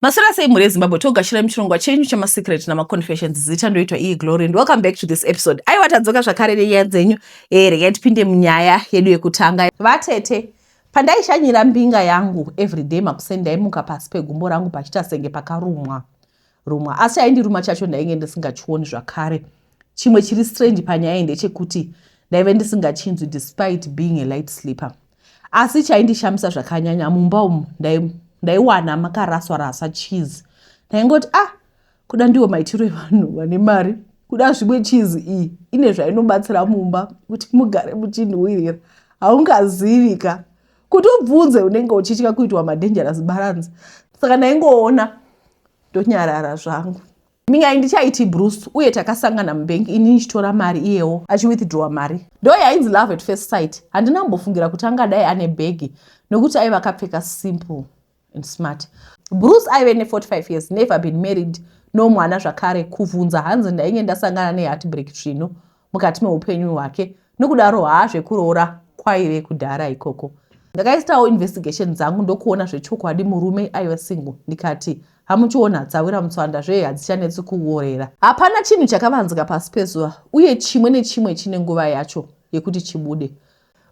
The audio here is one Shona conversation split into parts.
Maswera sei mhuri yeZimbabwe togashira muchirongwa chenyu chemasecret namaconfessions zita ndoitwa iyi glory and welcome back to this episode aiwa tadzoka zvakare nenyaya dzenyu eh regai tipinde munyaya yedu yekutanga vatete pandaishanyira mbinga yangu everyday makuseni ndaimuka pasi pegumbo rangu pachita senge pakarumwa rumwa asi chaindiruma chacho ndainge ndisingachioni zvakare chimwe chiri strange panyaya iyi ndechekuti ndaive ndisingachinzwi despite being a light sleeper asi chaindishamisa zvakanyanya mumba umu ndaiwana makaraswa raswa cheese ndaingoti ah kuda ndiwo maitiro evanhu vane mari kuda zvimwe cheese iyi ine zvainobatsira mumba kuti mugare muchinhuwirira haungazivika kuti ubvunze unenge uchitya kuitwa madangerous balance saka ndaingoona ndonyarara zvangu Me, handichaiti Bruce uye takasangana mubank ini ndichitora mari iyewo achiwithdrawa mari. Ndo yainzi love at first sight. Handina kumbofungira kuti angadai ane bhegi nokuti aiva akapfeka simple and smart. Bruce aive ne 45 years, never been married, no mwana zvakare. Kuvhunza hanzi ndainge ndasangana ne heartbreak svinu. mukati meupenyu hwake nokudaro haa zvekuroora kwaive kudhara ikoko ndakaitawo investigation dzangu ndokuona zvechokwadi murume aiva single ndikati hamuchiona dzawira mutswanda zve hadzichanetsi kuorera hapana chinhu chakavanzika pasi pezuva uye chimwe nechimwe chine nguva yacho yekuti chibude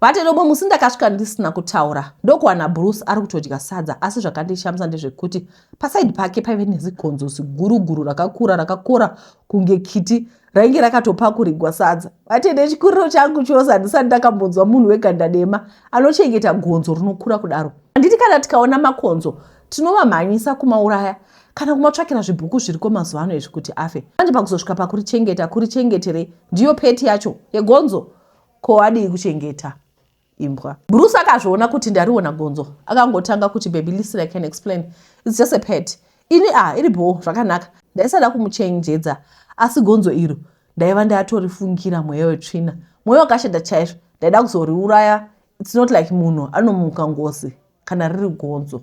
Vati rimwe musi ndakasvika ndisina kutaura ndokuwana Bruce ari kutodya sadza asi zvakandishamisa ndezvekuti pasaidi pake paive nezigonzo ziguruguru rakakura rakakora kunge kiti rainge rakatopakurigwa sadza. Vati nechikuriro changu chose handisati ndakambonzwa munhu weganda dema anochengeta gonzo rinokura kudaro. Handiti kana tikaona makonzo tinovamhanyisa kumauraya kana kumatsvakira zvibhuku zviriko mazuva ano izvi kuti afe. Manje pakuzosvika pakurichengeta kurichengeterei ndiyo peti yacho yegonzo Ko adii kuchengeta imbwa. Bruce akazviona kuti ndariona gonzo akangotanga kuti baby listen I can explain it's just a pet ini ah iri bhoo zvakanaka ndaisada kumuchenjedza asi gonzo iro ndaiva ndatorifungira mweya wetsvina mwoyo wakashata chaizvo ndaida kuzoriuraya it's not like munhu anomuka ngozi kana riri gonzo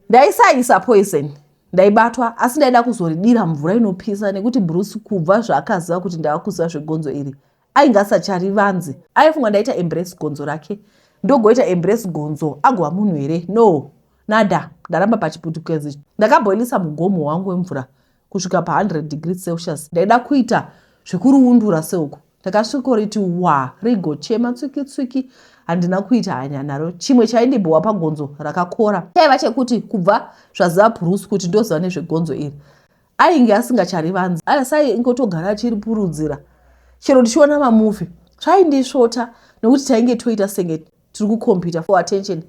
Ndaisaisa poison ndaibatwa asi ndaida kuzoridira mvura inopisa nekuti bruce kubva zvaakaziva kuti ndava kuziva zvegonzo iri ainge asachari vanzi aifunga ndaita embrace gonzo rake ndogoita embrace gonzo agova munhu here no nada ndaramba pachiputukezi ndakaboilisa mugomo wangu wemvura kusvika pa100 degree celsius ndaida kuita zvekuriundura seuku Ndakasvikoriti wa rigochema tswiki tswiki handina kuita hanya naro. Chimwe chaindibhowa pagonzo rakakora chaiva chekuti kubva zvaziva Bruce kuti ndoziva nezvegonzo iri ainge asingacharivanzi asi aingotogara achiripurudzira chero ndichiona mamuvi zvaindisvota nekuti tainge toita senge tiri kukompita for attention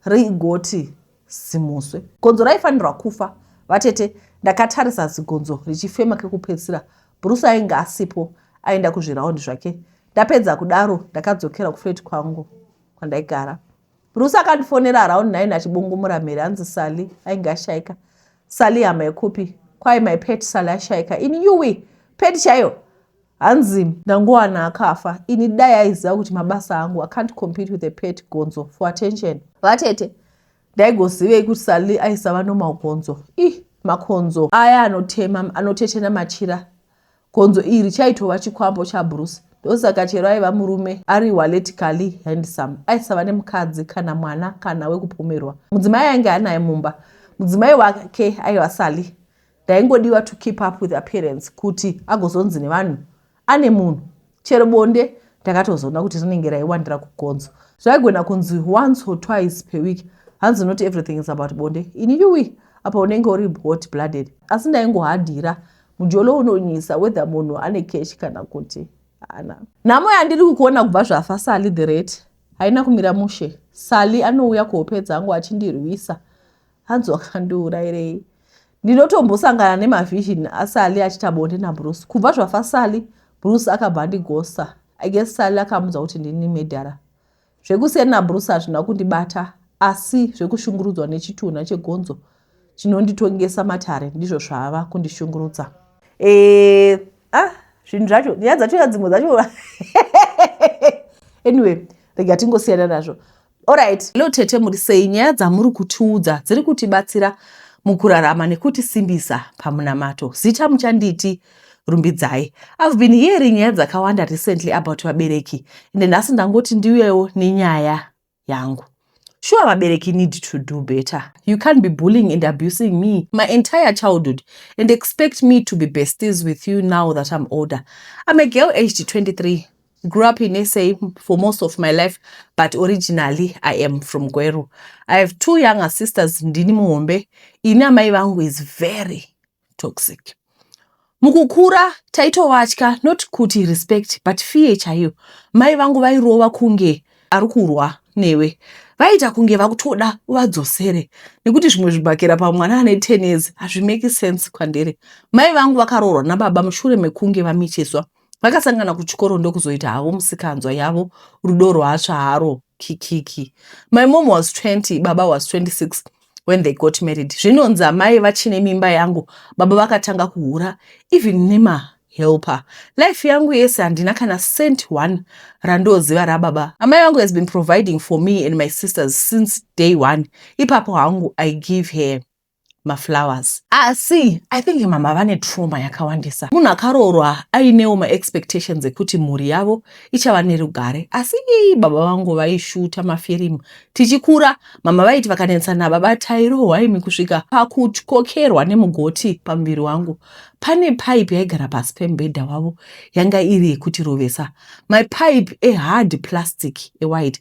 rigoti Zimuswe. Gonzo raifanirwa kufa. Vatete, ndakatarisa zigonzo richifema kekupedzisira. Bruce ainge asipo, aenda kuzviraundi zvake. Ndapedza kudaro, ndakadzokera kuflat kwangu kwandaigara. Bruce akandifonera around 9 achibungumura mhere anzi Sally ainge ashaika. Sally hama yekupi? Kwai my pet Sally ashaika. In UWI, pet chaiyo. Hanzi ndangowana akafa ini dai aiziva kuti mabasa angu I can't compete with a pet gonzo for attention. Vatete ndaigozivei kuti Sally aisava normal gonzo. Ih makonzo aya anotema anotetena machira. Gonzo iri chaitova chikwambo chaBruce. Ndosaka chero aiva murume ari waletically handsome aisava nemukadzi kana mwana kana wekupomerwa. Mudzimai ainge anaye mumba. Mudzimai wake aiva Sally. Ndaingodiwa to keep up with appearance kuti agozonzi nevanhu ane munhu. Chero bonde ndakatozoona kuti rinenge raiwandira kugonzo. Zvaigona kunzi once or twice per week. Hanzi not everything is about bonde. Ini yuwi apa unenge uri hot blooded. Asi ndaingohadira mujolo unonyisa whether munhu ane cash kana kuti haana. Nhamo yandiri kukuona kubva zvafa Sally the rate haina kumira mushe. Sally anouya kuhope dzangu achindirwisa. hanzi wakandiurairei ndinotombosangana nemavhision asali achita bonde nabruce kubva zvafa sali bruce akabva andigosa i guess sali akamudza kuti ndini medhara zvekusiyana nabruce hazvina kundibata asi zvekushungurudzwa nechitunha chegonzo chinonditongesa matare ndizvo zvava kundishungurudza e, ah, zvinhu zvacho nyaya dzacho ya dzimwe dzacho anyway rega tingosiyana nazvo Alright, hello tete muri sei? Nyaya dzamuri kutiudza dziri kutibatsira mukurarama nekutisimbisa pamunamato. Zita muchanditi Rumbidzai. I've been hearing nyaya dzakawanda recently about vabereki ende nhasi ndangoti ndiuyewo nenyaya yangu. Sure, vabereki need to do better. You can't be bullying and abusing me my entire childhood and expect me to be besties with you now that I'm older. I'm a girl aged 23. I grew up in SA for most of my life but originally I am from Gweru. I have two younger sisters ndini muhombe. Ini amai vangu is very toxic. Mukukura taitovatya not kuti respect but fear chaiyo. Mai vangu vairova kunge ari kurwa newe vaita kunge vakutoda uvadzosere nekuti zvimwe zvibhakera pamwana ane ten years hazvimeki sense kwandiri mai vangu vakaroorwa nababa mushure mekunge vamitiswa vakasangana kuchikoro ndokuzoita havo musikanzwa yavo rudo rwatsva haro kikiki my mom was 20 baba was 26 when they got married zvinonzi amai vachine mimba yangu baba vakatanga kuhura even nema helper life yangu yese handina kana cent one randoziva rababa amai vangu has been providing for me and my sisters since day one ipapo hangu i give her maflowers asi ah, i think mama vane trauma yakawandisa munhu akaroorwa ainewo maexpectations ekuti mhuri yavo ichava nerugare asi ii baba vangu vaishuta mafirimu tichikura mama vaiti vakanetsa nababa tairohwa imi kusvika pakutyokerwa nemugoti pamuviri wangu pane pipe yaigara pasi pemubhedha wavo yanga iri yekutirovesa mapipe ehard plastic ewhite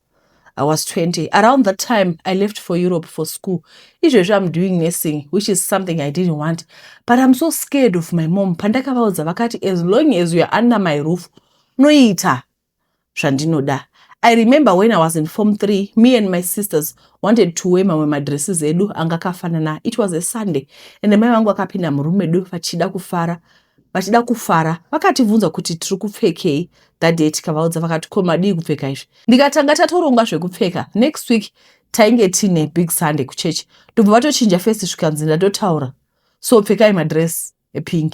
I was 20. Around that time, I left for Europe for school. Izvezvi I'm doing nursing, which is something I didn't want. But I'm so scared of my mom. Pandakavaudza vakati, as long as you are under my roof, noita zvandinoda. I remember when I was in form 3, me and my sisters wanted to wear mamwe madresses edu anga akafanana. It was a Sunday and mai vangu vakapinda murume edu vachida kufara vachida kufara vakatibvunza kuti tiri kupfekei that day tikavaudza vakati ko madii kupfeka izvi ndikatanga tatoronga zvekupfeka next week tainge tiine big sunday kuchechi ndobva vatochinja fesi zvikanzi ndatotaura so pfekai madress epink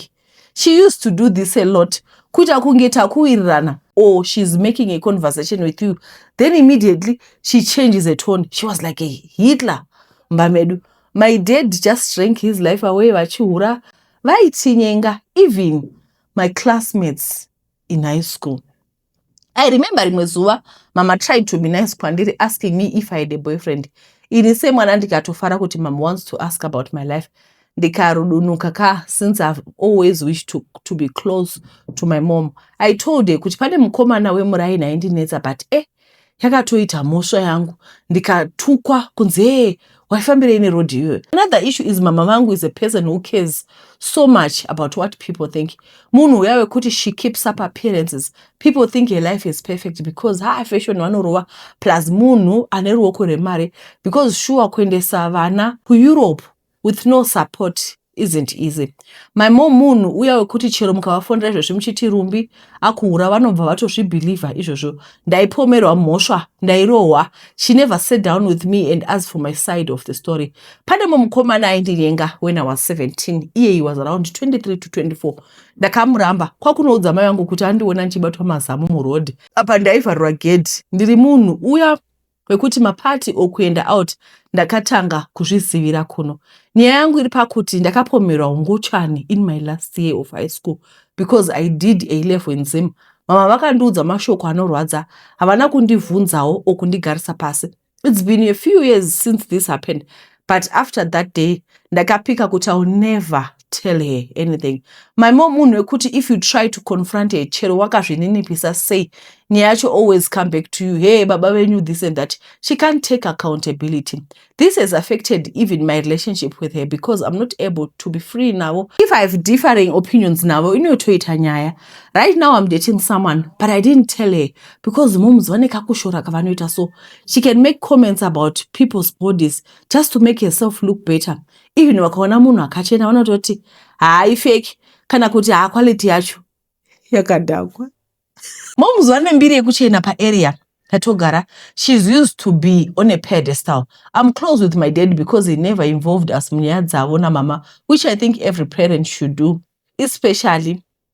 she used to do this a lot kuita kunge takuwirirana or she's making a conversation with you then immediately she changes a tone she was like a hitler mumba medu my dad just drank his life away vachihura vaitinyenga even my classmates in high school i remember rimwe zuva mama tried to be nice kwandiri asking me if i had a boyfriend ini semwana ndikatofara kuti mama wants to ask about my life ndikarudunuka ka since ihave always wish to, to be close to my mom i told her kuti pane mukomana wemuraini aindinetsa but e eh, yakatoita mhosva yangu ndikatukwa kunzi hee waifambirei neroad iyoyo another issue is mama vangu is a person who cares so much about what people think munhu uya wekuti she keeps up appearances people think her life is perfect because ha fashion vanorova plus munhu ane ruoko rwemari because shuwa kuendesa vana kueurope with no support isn't easy my mom munhu uya wekuti chero mukavafonera izvozvi muchiti rumbi akuhura vanobva vatozvibhilivha izvozvo ndaipomerwa mhosva ndairohwa she never sat down with me and ask for my side of the story pane mumukomana aindinyenga when i was 17 iye he was around 23 to 24 ndakamuramba kwakunoudza mai vangu kuti andiona ndichibatwa mazamu muroad apa ndaivharwa gedhi ndiri munhu uya kwekuti maparty or kuenda out ndakatanga kuzvizivira kuno nyaya yangu iri pakuti ndakapomerwa ungochani in my last year of high school because i did a level in zim mama vakandiudza mashoko anorwadza havana kundivhunzawo or kundigarisa pasi its been a few years since this happened but after that day ndakapika kuti iwill never tell her anything my mom munhu wekuti if you try to confront her chero wakazvininipisa sei nyaya yacho always come back to you hey baba venyu this and that she can't take accountability this has affected even my relationship with her because i'm not able to be free navo if i have differing opinions navo inotoita nyaya right now i'm dating someone but i didn't tell her because moms vane kakushora kavanoita so She can make comments about people's bodies just to make herself look better. Even vakaona munhu akachena vanototi haai fake kana kuti haa quality yacho yakadhakwa. Moms vane mbiri yekuchena paarea yatogara. She's used to be on a pedestal. I'm close with my dad because he never involved us munyaya dzavo namama which I think every parent should do especially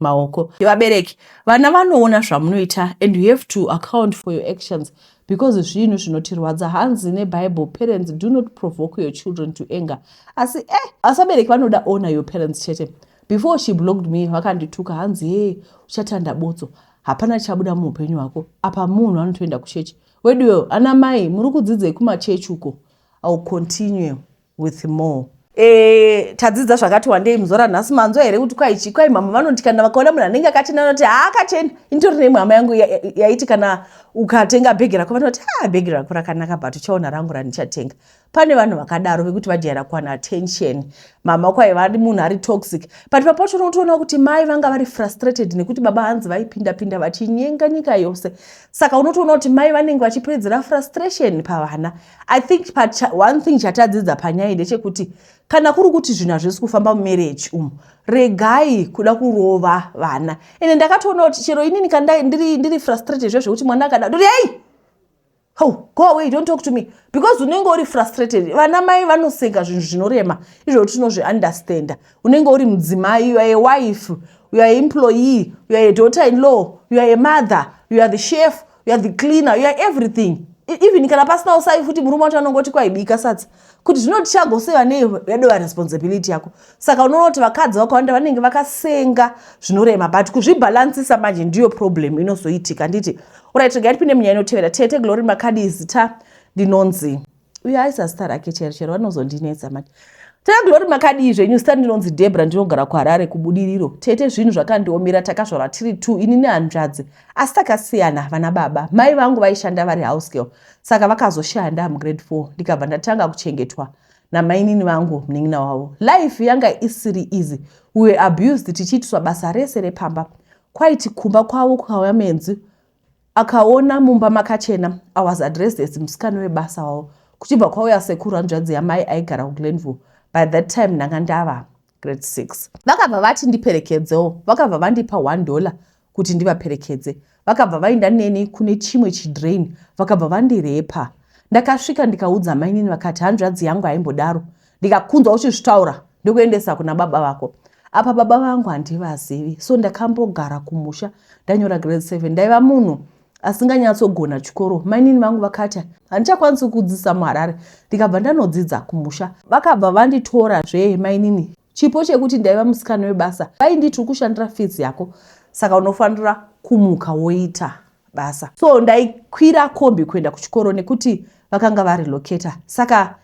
maoko vabereki vana vanoona zvamunoita and you have to account for your actions because zvinhu zvinotirwadza hanzi nebible parents do not provoke your children to anger asi e eh, asi vabereki vanoda ona your parents chete before she blocked me vakandituka hanzi hee uchatanda botso hapana chabuda muupenyu hwako apa munhu anotoenda kuchechi weduweo ana mai muri kudzidzei kumachechi uko ill continue with more. Eh, tadzidza zvakati wandei muzora nhasi manzwa here kuti kwaichi kwai mhamha vanoti kana vakaona munhu anenge akachena vanoti haakachena initori nei mhama yangu yaiti kana ukatenga bhegi rako vanoti ha ah, bhegi rako rakanaka but uchaona rangu randichatenga pane vanhu vakadaro vekuti vajaira kuwana attention mhama kwai vari munhu ari toxic but papacho unotoona kuti mai vanga vari frustrated nekuti baba hanzi vaipindapinda vachinyenga nyika yose saka unotoona kuti mai vanenge vachipedzera frustration pavana i think one thing chatadzidza panyaya ndechekuti kana kuri kuti zvinhu hazvisi kufamba mumereji umu regai kuda kurova vana ende ndakatoona kuti chero inini kandai ndiri, ndiri frustrated zve zvekuti mwana akada ndoti hei how go away don't talk to me because unenge uri frustrated vana mai vanosenga zvinhu zvinorema izvo tinozviunderstanda unenge uri mudzimai uare wife uare employee uare daughter in law uare mother uare the chef you are the cleaner you are everything e, even kana pasina usavi futi murume wacho anonge oti kwaibika sadza kuti zvinoti chago sei vane yado varesponsibility yako saka unoona kuti vakadzi vakawanda vanenge vakasenga zvinorema but kuzvibhalansisa manje ndiyo problem inozoitika nditi urit regai tipinde munyaya inotevera tete glory makadii zita ndinonzi uyo aisa zita rake chero chero vanozondinetsa mati tete glory makadii zvenyu zita ndinonzi debra ndinogara kuharare kubudiriro tete zvinhu zvakandiomera takazvarwa tiri t ini nehanzvadzi asi takasiyana havana baba mai vangu vaishanda vari house girl saka vakazoshaya ndamugrade four ndikabva ndatanga kuchengetwa namainini vangu munin'ina wavo life yanga isiri easy we were abused tichiitiswa basa rese repamba kwaiti kumba kwavo kukauya menzi Akaona mumba makachena. I was addressed as musikana webasa wavo. Kuchibva kwauya sekuru hanzvadzi yamai aigara kuGlenville. By that time ndanga ndava grade 6. Vakabva vati ndiperekedzewo. Vakabva vandipa one dollar kuti ndivaperekedze. Vakabva vainda neni kune chimwe chidrain. Vakabva vandirepa. Ndakasvika ndikaudza mainini vakati hanzvadzi yangu haimbodaro. ndikakunzwa uchizvitaura ndokuendesa kuna baba vako apa baba vangu handivazivi so ndakambogara kumusha ndanyora grade seven ndaiva munhu asinganyatsogona chikoro mainini vangu vakati handichakwanisi kudzidzisa muharare ndikabva ndanodzidza kumusha vakabva vanditora zvee mainini chipo chekuti ndaiva musikana webasa vainditi ukushandira fizi yako saka unofanira kumuka woita basa so ndaikwira kombi kuenda kuchikoro nekuti vakanga vari locata saka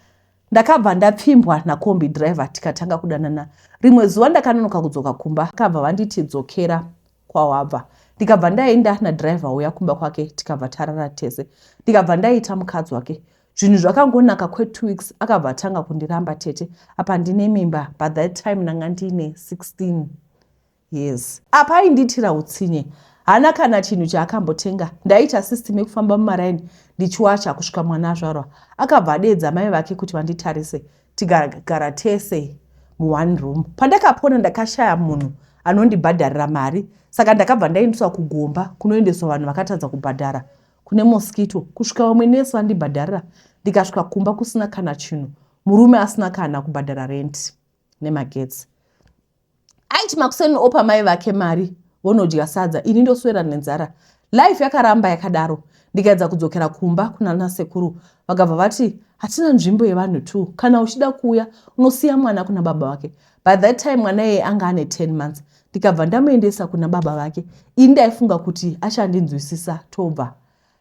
Ndakabva ndapfimbwa nakombi driver tikatanga kudanana. Rimwe zuva ndakanonoka kudzoka kumba vakabva vanditi dzokera kwawabva. Ndikabva ndaenda nadriver uya kumba kwake tikabva tarara tese. Ndikabva ndaita mukadzi wake. Zvinhu zvakangonaka kwe two weeks akabva atanga kundiramba tete apa ndine mimba but that time ndanga ndiine 16. Yes. Apa aindiitira utsinye. Hana kana chinhu chaakambotenga. Ndaiita system yekufamba mumaraini ndichiwacha kusvika mwana azvarwa. Akabva adeedza mai vake kuti vanditarise tikagara tese mu one room. Pandakapona ndakashaya munhu anondibhadharira mari saka ndakabva ndaendeswa kugomba kunoendeswa vanhu vakatadza kubhadhara kune mosquito kusvika vamwe nurse vandibhadharira ndikasvika kumba kusina kana chinhu murume asina kana kubhadhara rent nemagetsi aiti makuseni opa mai vake mari vonodya sadza ini ndoswera nenzara life yakaramba yakadaro ndikaedza kudzokera kumba kunana sekuru vakabva vati hatina nzvimbo yevanhu t kana uchida kuuya unosiya mwana kuna baba vake by that time mwana yeye anga ane 10 months ndikabva ndamuendesa kuna baba vake ini ndaifunga kuti achandinzwisisa tobva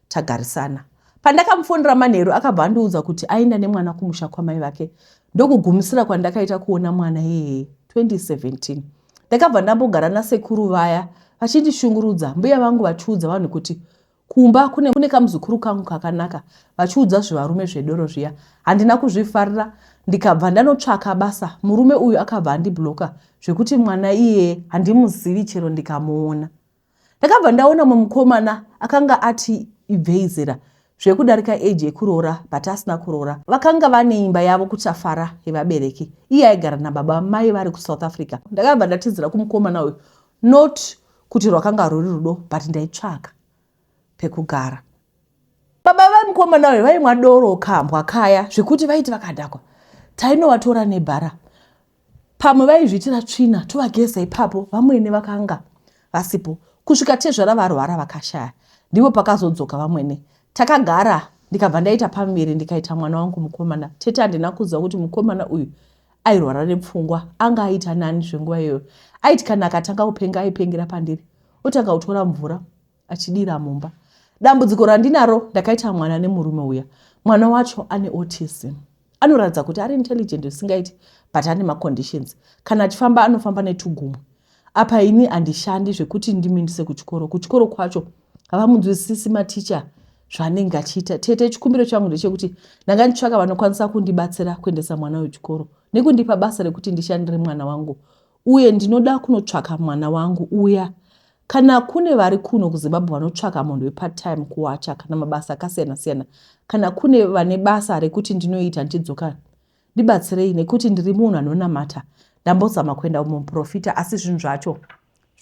tagarisana. Pandakamufonera manheru akabva andiudza kuti aenda nemwana kumusha kwamai vake ndokugumisira kwandakaita kuona mwana yeye 2017 ndakabva ndambogara nasekuru vaya vachindishungurudza mbuya vangu vachiudza vanhu kuti kumba kune, kune kamuzukuru kangu kakanaka vachiudza zvivarume zvedoro zviya handina kuzvifarira ndikabva ndanotsvaka basa murume uyu akabva andibloka zvekuti mwana iyeye handimuzivi chero ndikamuona ndakabva ndaona mumwe mukomana akanga ati ibvei zera zvekudarika age yekuroora but asina kuroora vakanga vane imba yavo kuchafara yevabereki iye aigara nababa mai vari kusouth africa ndakabva ndatizira kumukomana uyu not kuti rwakanga ruri rudo but ndaitsvaka pekugara baba vemukomana uyu vaimwa doro kambwa kaya zvekuti vaiti vakadhakwa tainovatora nebhara pamwe vaizviitira tsvina tovageza ipapo vamwene vakanga vasipo kusvika tezvara varwara vakashaya ndipo pakazodzoka vamwene takagara ndikabva ndaita pamiri ndikaita mwana wangu mukomana tete handina kuziva kuti mukomana uyu airwara nepfungwa anga aita nani zvenguva iyoyo aiti kana akatanga kupenga aipengera pandiri otanga kutora mvura achidira mumba dambudziko randinaro ndakaita mwana nemurume uya mwana wacho ane autism anoratidza kuti ari intelligent zvisingaiti but ane maconditions kana achifamba anofamba netugumwe apa ini handishandi zvekuti ndimindise kuchikoro kuchikoro kwacho havamunzwisisi maticha zvaanenge achiita tete chikumbiro changu ndechekuti ndanga nditsvaka vanokwanisa kundibatsira kuendesa mwana wechikoro nekundipa basa rekuti ndishandire mwana wangu uye ndinoda kunotsvaka mwana wangu uya kana kune vari kuno kuzimbabwe vanotsvaka munhu wepatime kuwacha kana mabasa akasiyana siyana kana kune vane basa rekuti ndinoita ndichidzoka ndibatsirei nekuti ndiri munhu anonamata ndambozama kuenda kumuprofita asi zvinhu zvacho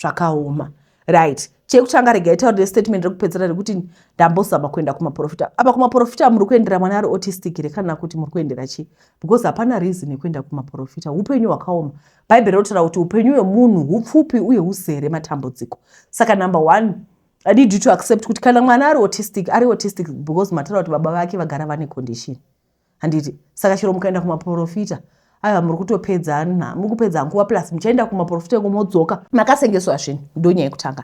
zvakaoma right chekutanga rega itaurire statement rekupedzera rekuti ndambozama kuenda kumaprofita apa kumaprofita muri kuendera mwana ari autistic here kana kuti muri kuendera chii because hapana reason yekuenda kumaprofita upenyu hwakaoma bhaibheri rinotaura kuti upenyu hwemunhu hupfupi uye huzere matambudziko saka number one i need you to accept kuti kana mwana ari autistic ari autistic because mataura kuti baba vake vagara vane condition handiti saka chero mukaenda kumaporofita aiwa muri kutopedza nha muri kupedza nguva plus muchaenda kumaporofita iko modzoka makasengeswa zvini ndonyaya yekutanga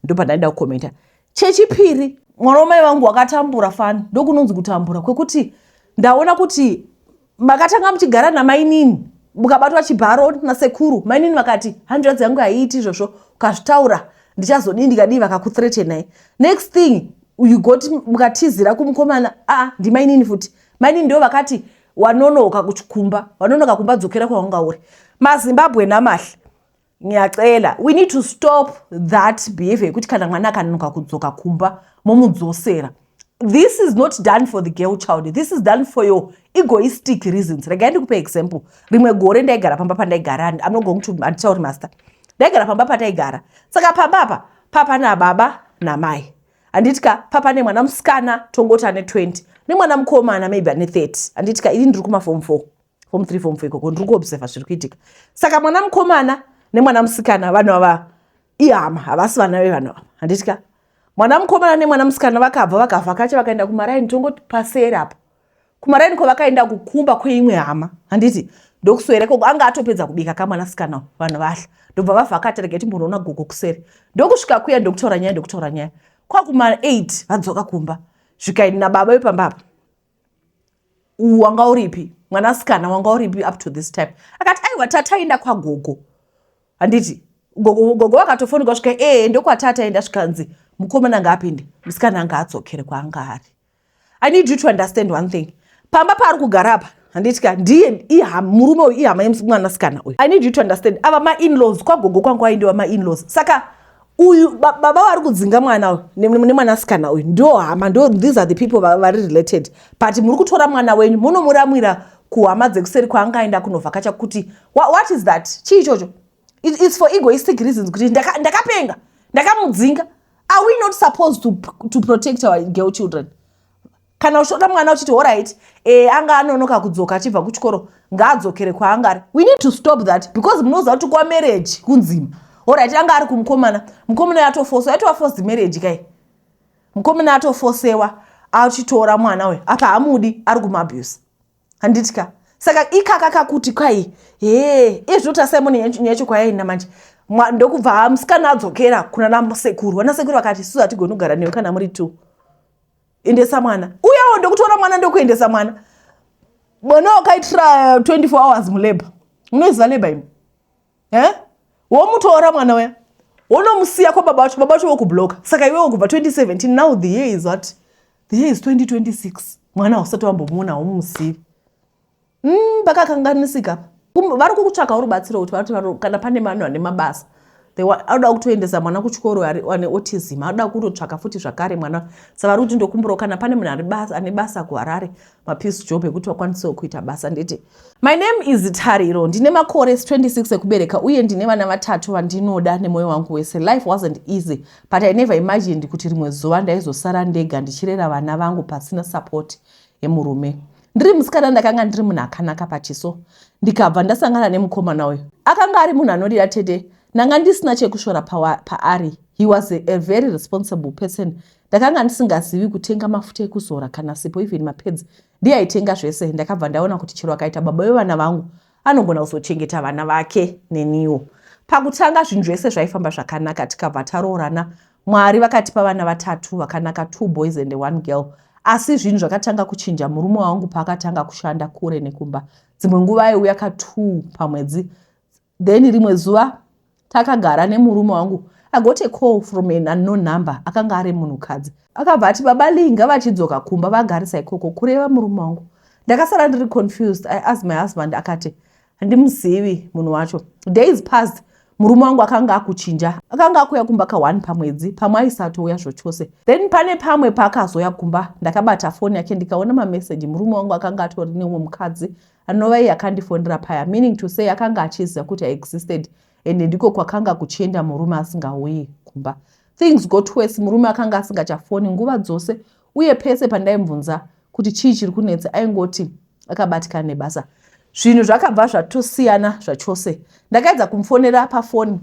ndopandaida kukomenta chechipiri mwana wamai vangu wakatambura fani ndokunonzi kutambura kwekuti ndaona kuti makatanga muchigara namainini mukabatwa chibharo nasekuru mainini vakati hanzvadzi yangu haiiti izvozvo ukazvitaura ndichazodii ndikadii vakakuthretenai next thing you got mukatizira kumukomana aa ndimainini futi mainini ndo vakati wanonoka kuchikumba wanonoka kumba dzokera kwawanga uri mazimbabwe namahle nyaxela we need to stop that behavior yekuti kana mwana akanonoka kudzoka kumba momudzosera this is not done for the girl child this is done for your egoistic reasons regai ndikupa example rimwe gore ndaigara pamba pandaigara i'm not going to andichauri master ndaigara pamba pandaigara saka pamba apa papa nababa namai handiti ka papa nemwana musikana tongoti ane 20 nemwana mukomana maybe ane 30 handiti ka ini ndiri kumafom 4 fom 3 fom 4 ikoko ndiri kuobserva zviri kuitika saka mwana mukomana nemwana musikana vanhu ava ihama havasi vana vevanhu ava handiti ka mwana mukomana nemwana musikana vakabva vakavhakacha vakaenda kumaraini tongoti paseri apo kumaraini kwavakaenda kukumba kweimwe hama handiti ndokuswere koko anga atopedza kubika kamwana sikana vanhu vahla ndobva vavhakata rega timbonoona gogo kusere ndokusvika kuya ndokutaura nyaya ndokutaura nyaya kwakuma 8 vadzoka kumba zvikaini nababa vepamba apa wanga uripi mwana sikana wanga uripi up to this time akati aiwa tataenda kwagogo handiti gogo vakatofonika svika ee eh, ndokwatataenda zvikanzi mukomana ngaapinde musikana anga adzokere kwaanga ari i need you to understand one thing pamba paari kugara apa handiti ka ndiye murume uyu ihama yemwanasikana uyu i need you to understand ava mainlaws kwagogo kwangu aindiwa mainlaws saka uyu baba vari kudzinga mwana uyu nemwanasikana uyu ndo hama ndo these are the people vari related but muri kutora mwana wenyu munomuramwira kuhama dzekuseri kwaanga aenda kunovhakacha kuti what is that chii ichocho It, it's for egoistic reasons kuti ndakapenga ndaka ndakamudzinga are we not supposed to, to protect our girl children kana uchiona mwana uchiti orit e, eh, anga anonoka kudzoka achibva kuchikoro ngaadzokere kwaanga ari we need to stop that because munoziva kuti kwa marriage kunzima orit anga ari kumukomana mukomana yatofosewa yatova forced marriage kai mukomana yatofosewa achitora mwana uyo apa hamudi ari kumabuse handiti ka saka ikaka kakuti kwai hee iye zvinoti asimoni nyaya yacho kwayaina manje ndokubva musikana adzokera kuna nasekuru vanasekuru vakati isusu hatigoni kugara newe kana muri two endesa mwana uyawo ndokutora mwana ndokuendesa mwana mwana wakaitira 24 hours mulabor munoziva labor imi eh? womutora mwana uya wonomusiya kwababa vacho baba vacho vokubloka saka iwewo kubva 2017 now the year is what the year is 2026 mwana hausati wambomuona haumusivi mm, pakakanganisika pa vari kukutsvaka uri batsiro kuti vati kana pane vanhu vane mabasa anoda kutoendesa mwana kuchikoro ane autism anoda kutotsvaka futi zvakare mwana sa vari kuti ndokumburawo kana pane munhu ane basa kuharare mapiece job ekuti vakwanisewo kuita basa nditi my name is tariro ndine makore 26 ekubereka uye ndine vana vatatu vandinoda nemwoyo wangu wese life wasn't easy but i never imagined kuti rimwe zuva ndaizosara ndega ndichirera vana vangu pasina support yemurume ndiri musikana ndakanga ndiri munhu akanaka pachiso ndikabva ndasangana nemukomana uyu akanga ari munhu anorira tete ndanga ndisina chekushora paari pa he was a, a very responsible person Ndakanga ndisingazivi kutenga mafuta ekuzora kana sipo even mapads ndiyaitenga zvese. Ndakabva ndaona kuti chero akaita baba vevana vangu anogona kuzochengeta vana vake neniwo. Pakutanga zvinhu zvese zvaifamba zvakanaka tikabva taroorana. Mwari vakatipa vana vatatu vakanaka two boys and one girl. Asi zvinhu zvakatanga kuchinja murume wangu paakatanga kushanda kure nekumba. Dzimwe nguva aiuya ka two pamwedzi Then rimwe zuva takagara nemurume wangu I got a call from an unknown number akanga ari munhukadzi akabva ati baba Lee ngavachidzoka kumba vagarisa ikoko kureva murume wangu ndakasara ndiri confused I asked my husband akati handimuzivi munhu wacho days passed murume wangu akanga akuchinja akanga akuya kumba ka one pamwedzi pamwe aisatouya zvochose then pane pamwe paakazoya kumba ndakabata foni yake ndikaona mameseji murume wangu akanga atori neumwe mukadzi anova iye akandifonera paya meaning to say akanga achiziva kuti i existed and ndiko kwakanga kuchienda murume asingauyi kumba things got worse murume akanga asingachafoni nguva dzose uye pese pandaimubvunza kuti chii chiri kunetsa aingoti akabatikana nebasa zvinhu zvakabva zvatosiyana zvachose ndakaedza kumufonera pafoni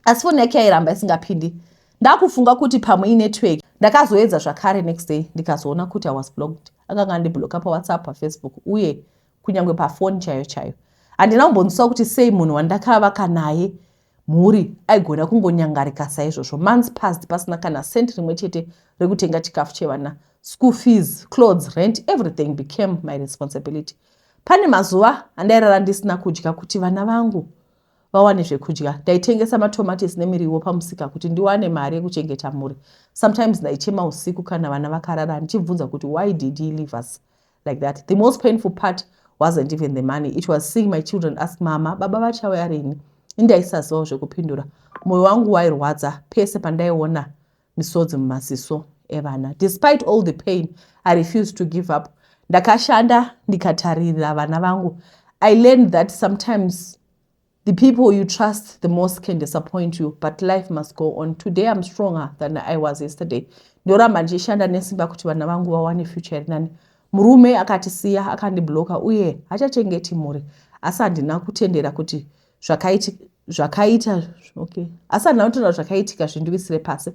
asi foni yake yairamba isingapindi ndakufunga kuti pamwe inetwork ndakazoedza zvakare next day ndikazoona kuti i was blocked akanga andibloka pawhatsapp pafacebook uye kunyange pafoni chaiyo chaiyo handina kumbonzwiswa kuti sei munhu wandakavaka naye mhuri aigona kungonyangarika saizvozvo months past pasina kana cent rimwe chete rekutenga chikafu chevana school fees clothes rent everything became my responsibility pane mazuva andairara ndisina kudya kuti vana vangu vawane zvekudya. Ndaitengesa matomates nemiriwo pamusika kuti ndiwane mari yekuchengeta mhuri. Sometimes ndaichema usiku kana vana vakarara ndichibvunza kuti why did he leave us like that. The most painful part wasn't even the money. It was seeing my children ask mama, baba vachauya rini? Ini ndaisazivawo zvekupindura. Moyo wangu wairwadza pese pandaiona misodzi mumaziso evana despite all the pain i refuse to give up ndakashanda ndikataririra vana vangu i learned that sometimes the people you trust the most can disappoint you but life must go on today i'm stronger than i was yesterday ndoramba ndichishanda nesimba kuti vana vangu vawane future iri nani murume akatisiya akandibloka uye hachachengeti mhuri asi handina kutendera kuti zvakaitika zvakaita okay asi handina kutaura zvakaitika zvindiwisire pasi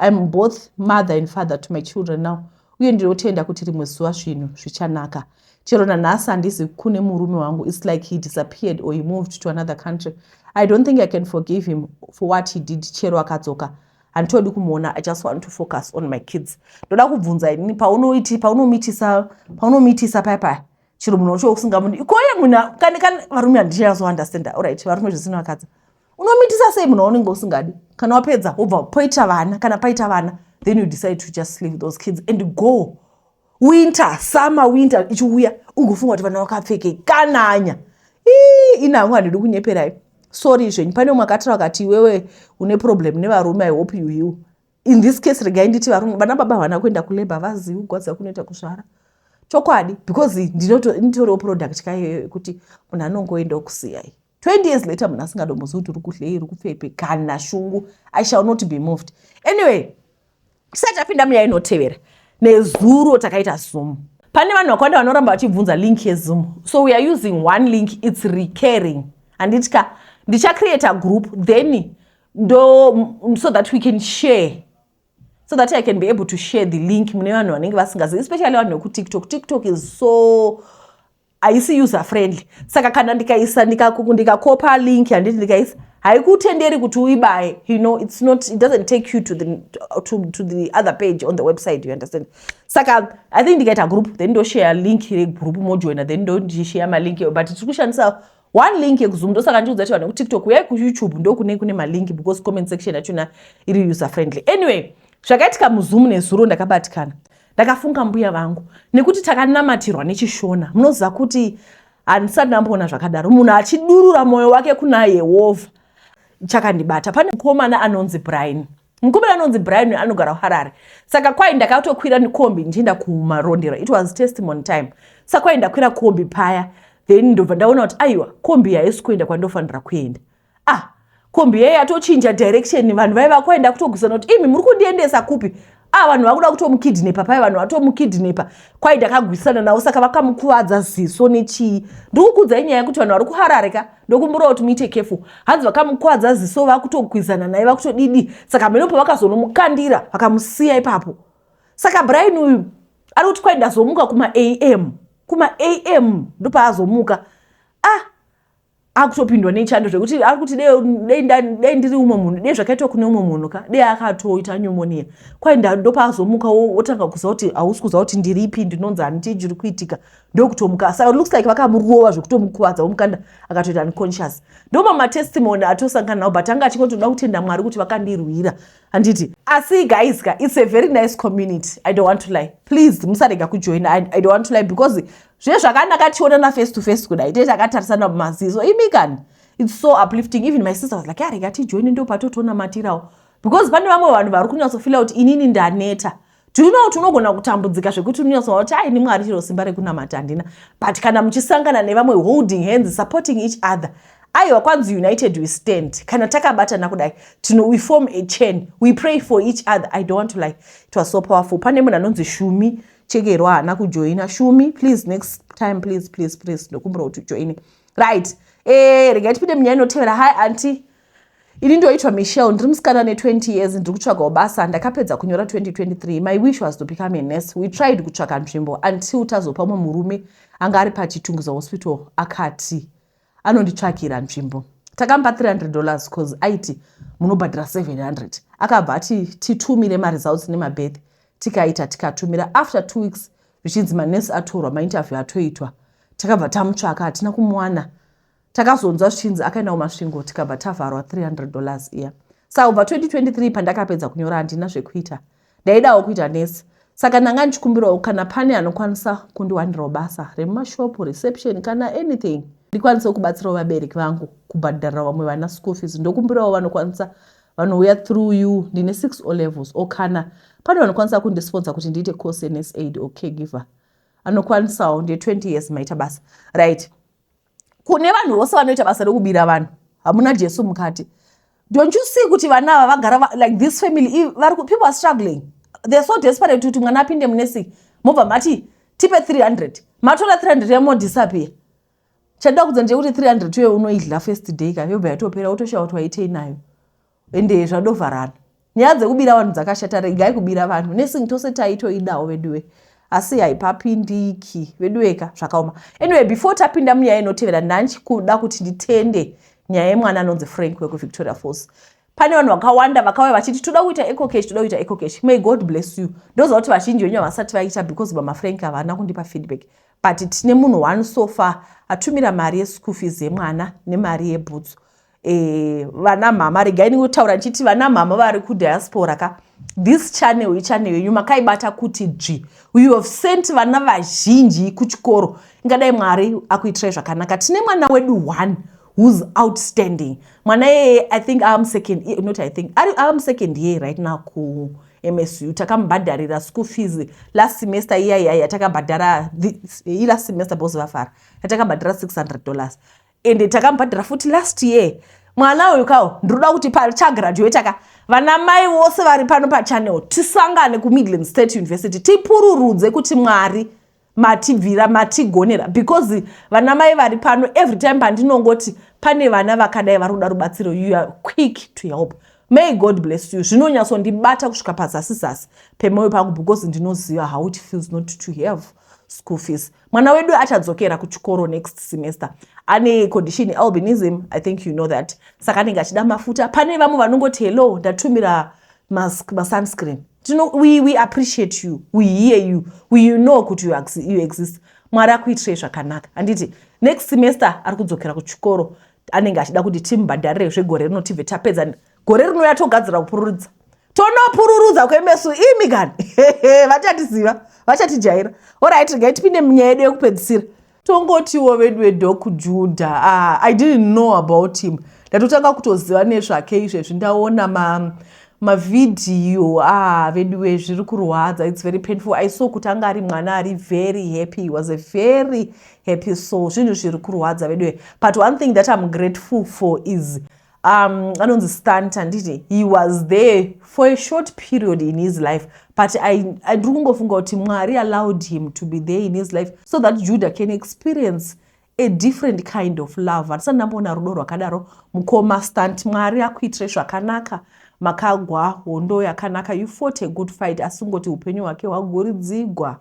iam both mother and father to my children now uye ndinotenda kuti rimwe zuva zvinhu zvichanaka chero nanhasi handizi kune murume wangu its like he disappeared or he moved to another country i don't think i can forgive him for what he did chero akadzoka handitodi kumuona i just want to focus on my kids ndoda kubvunza inini paunoiti paunomitisa paunomitisa paya paya chero munhu wacho usingamuni ikoye munhu kani kani varume handichazo understanda orit varume zvisinowakadza unomitisa sei munhu waunenge usingadi kana wapedza wobva poita vana kana paita vana then you decide to just leave those kids and go winter summer winter ichiuya ungofunga kuti vana vakapfekei kananya ii ina hangu handidi kunyeperai sorry zvenyu pane umwe akatira vakati iwewe une problem nevarume i hope you heal in this case regai nditi varume vana baba havana kuenda kulabor vazivi kugwadza kunoita kuzvara chokwadi because nditoriwo product kaiyoyo yekuti munhu anongoendawo kusiyai 20 years later munhu asingadombozivi kuti uri kudlei iri kupfepi kana shungu i shall not be moved anyway tisati tapinda muya inotevera nezuro takaita zoom pane vanhu vakawanda vanoramba vachibvunza link yezoom so we are using one link its recurring handiti ka ndichacreata group then ndo so that we can share so that i can be able to share the link mune vanhu vanenge vasingazivi especially vanhu vekutiktok tiktok is so haisi user friendly saka kana ndikaisa ndikakopa link handiti ndikaisa haikutenderi kuti uibaye you know it's not it doesn't take you to the, to, to the other page on the website you understand saka i think ndikaita group then ndoshare link regroup mojoina then ndondishare malink but tiri kushandisa one link yekuzoom ndosaka ndichiudza kuti vanhu vekutiktok uyai kuyoutube ndokunei kune malink because comment section yachona iri user friendly anyway zvakaitika muzoom nezuro ndakabatikana ndakafunga mbuya vangu nekuti takanamatirwa nechishona munoziva kuti handisati ndamboona zvakadaro munhu achidurura mwoyo wake kuna yehovha chakandibata pane mukomana anonzi brian Mukomana anonzi Brian anogara kuHarare. Saka kwai ndakatokwira nekombi ndichienda kumarondera. It was testimony time. Saka kwai ndakwira kombi paya. Then ndobva ndaona kuti aiwa kombi haisi kuenda kwandofanira kuenda. Ah, kombi yeye yatochinja direction vanhu vaiva kwaenda kutogusana kuti imi muri kundiendesa kupi? Ah, vanhu vakuda kutomukidnepa paya vanhu vatomukidnepa. Kwai ndakagwisana navo saka vakamukuvadza ziso nechii. Ndikukudzai nyaya kuti vanhu vari kuHarare ka. ndokumburawo kuti muite kefu hanzi vakamukwadza ziso vakutokwizana naye vakutodidi saka mheno pavakazonomukandira vakamusiya ipapo saka brian uyu ari kuti kwai ndazomuka kuma am kuma am ndopaazomuka ah akutopindwa nechando zvekuti ari kuti dei ndiri umwe munhu dei zvakaitwa kune umwe munhu ka dei akatoita pneumonia kwai ndopaazomuka wotanga kuziva kuti hausi kuziva kuti ndiripi ndinonzi handichiri kuitika ndokutomuka saka looks like vakamurova zvekutomukuvadza vomukanda akatoita unconscious ndomamaTestimony atosangana nawo but anga achingotoda kutenda mwari kuti vakandirwira handiti asi guys ka it's a very nice community i don't want to lie please musarega kujoina I, i don't want to lie because zve zvakanaka tionana face to face kudai tete akatarisana mumaziso imi kani it's so uplifting even my sister was like arega tijoine ndopatotonamatirawo because pane vamwe vanhu vari kunyatsofila kuti inini ndaneta Do you know tunogona kutambudzika zvekuti unoyasoa kuti aini mwari chero simba rekunamata handina but kana muchisangana nevamwe holding hands supporting each other aiwa kwanzi united we stand kana takabatana kudai tino we form a chain we pray for each other i don't want to like it was so powerful pane munhu anonzi shumi chekerwa haana kujoina shumi please next time please please please ndokumbira kuti ujoine right e eh, rega tipinde munyaya inotevera hi anti ini ndoitwa michel ndiri musikana ne 20 years ndiri kutsvagawo basa ndakapedza kunyora 2023 my wish was to become a nurse we tried kutsvaga nzvimbo until tazopa umwe murume anga ari pachitungiza hospital akati anonditsvagira nzvimbo takamupa 300 dollars bcause aiti munobhadhira 700 akabva ati titumire maresults nemabeth tikaita tikatumira after two weeks zvichinzi manurse atorwa mainterview atoitwa takabva tamutsvaka hatina kumuwana takazonzwa zvichinzi akaenda kumasvingo tikabva tavharwa 300 dollars iya saka kubva 2023 pandakapedza kunyora handina zvekuita ndaidawo kuita nesi saka ndanga ndichikumbirawo kana pane anokwanisa kundiwanirawo basa remumashopu reception kana anything ndikwanisewo kubatsirawo vabereki vangu kubhadharira vamwe vana school fees ndokumbirawo vanokwanisa vanouya through you ndine six o levels o kana pane vanokwanisa kundisponsa kuti ndiite course yenesaid or caregiver anokwanisawo ndiye 20 years maita basa right kune vanhu vose vanoita basa rekubira vanhu hamuna jesu mukati don't you see kuti vana ava vagara va, like this family vari people are struggling they're so desperate kuti mwana apinde munesiki mobva mati tipe 300 matora 300 yamo disappear chandoda kudza ndechekuti 300 uye unoidla first day ka yobva yatopera wotoshaya kuti waitei nayo ende zvadovharana nyaya dzekubira vanhu dzakashata regai kubira vanhu nesing tose taitoidawo veduwe asi haipapindiki veduweka zvakaoma anyway before tapinda munyaya inotevera ndanchi kuda kuti nditende nyaya yemwana anonzi frank wekuvictoria falls pane vanhu vakawanda vakauya vachiti toda kuita ecocash toda kuita ecocash may god bless you ndoziva kuti vazhinji venyu havasati vaita because bama frank havana kundipa feedback but tine munhu one sofa atumira mari yeschool fees yemwana nemari yebhutsu eh, vana mhama regai ndingotaura ndichiti vana mhama vari kudiaspora ka this channel ichannel yenyu makaibata kuti dzvi you have sent vana vazhinji kuchikoro ingadai mwari akuitirai zvakanaka tine mwana wedu one who's outstanding mwana iyeye i think am second eh, not i think ari am second year right now ku msu takamubhadharira school fees last semester iya iya yatakabhadhara ilast semester bos vafara yatakabhadhara 600 dollars ende takamubhadhara futi last year mwana uyu kawo ndinoda kuti pachagraduata ka vana mai vose vari pano pachannel tisangane kumidland state university tipururudze kuti mwari matibvira matigonera because vana mai vari pano every time pandinongoti pane vana vakadai vari kuda rubatsiro you are quick to help may god bless you zvinonyatsondibata kusvika pazasi zasi pemoyo pangu because ndinoziva how it feels not to have school fees mwana wedu achadzokera kuchikoro next semester ane condition albinism i think you know that saka anenge achida mafuta pane vamwe vanongoti hello ndatumira mask masunscreen tino we, we appreciate you we hear you we you know kuti you, you exist mwari akuitirei zvakanaka handiti next semester ari kudzokera kuchikoro anenge achida kuti timbhadharire zvegore rino tibve tapedza gore rinouya togadzira kupururudza tonopururudza kwemesu imi kani vachatiziva vachatijaira orit regai tipinde munyaya yedu yekupedzisira tongotiwo vedu vedok juda uh, ah, i didn't know about him ndatotanga kutoziva nezvake izvezvi ndaona ma mavhidhiyo uh, ah, veduwe zviri kurwadza its very painful i saw kuti anga ari mwana ari very happy he was a very happy so zvinhu zviri kurwadza veduwe but one thing that im grateful for is um anonzi stunt handiti he was there for a short period in his life but ndiri kungofunga kuti mwari allowed him to be there in his life so that judah can experience a different kind of love handisati ndamboona rudo rwakadaro mukoma stunt mwari akuitire zvakanaka makagwa hondo yakanaka you fought a good fight asi kungoti upenyu hwake hwagoridzigwa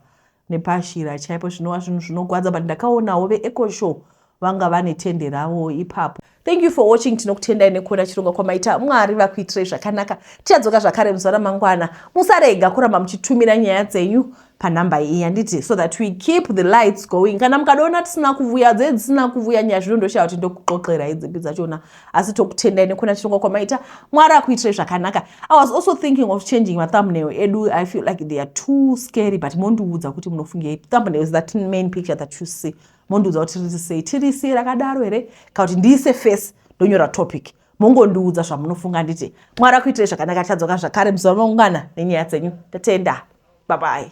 nepaAshira chaipo zvinova zvinhu zvinogwadza but ndakaonawo veEcoShow vanga vane tende ravo ipapo. Thank you for watching tinokutendai nekuona chirongwa kwamaita Mwari vakuitirei zvakanaka tichadzoka zvakare muzuva ramangwana musarega kuramba muchitumira nyaya dzenyu panhamba iyi handiti so that we keep the lights going kana mukadoona tisina kuvuya dzee dzisina kuvuya nyaya zvino ndoshaya kuti ndokuxoxerai dzipi dzachona asi tokutendai nekuna chirongwa kwamaita mwari akuitirai zvakanaka i was also thinking of changing mathumbnail edu i feel like they are too scary but mondiudza kuti munofungei thumbnail is that main picture that you see mondiudza kuti riri sei tiri sei rakadaro here kana kuti ndiise face ndonyora topic mongondiudza zvamunofunga nditi mwari akuitirai zvakanaka tichadzoka zvakare muzuva maungana nenyaya dzenyu tatenda babai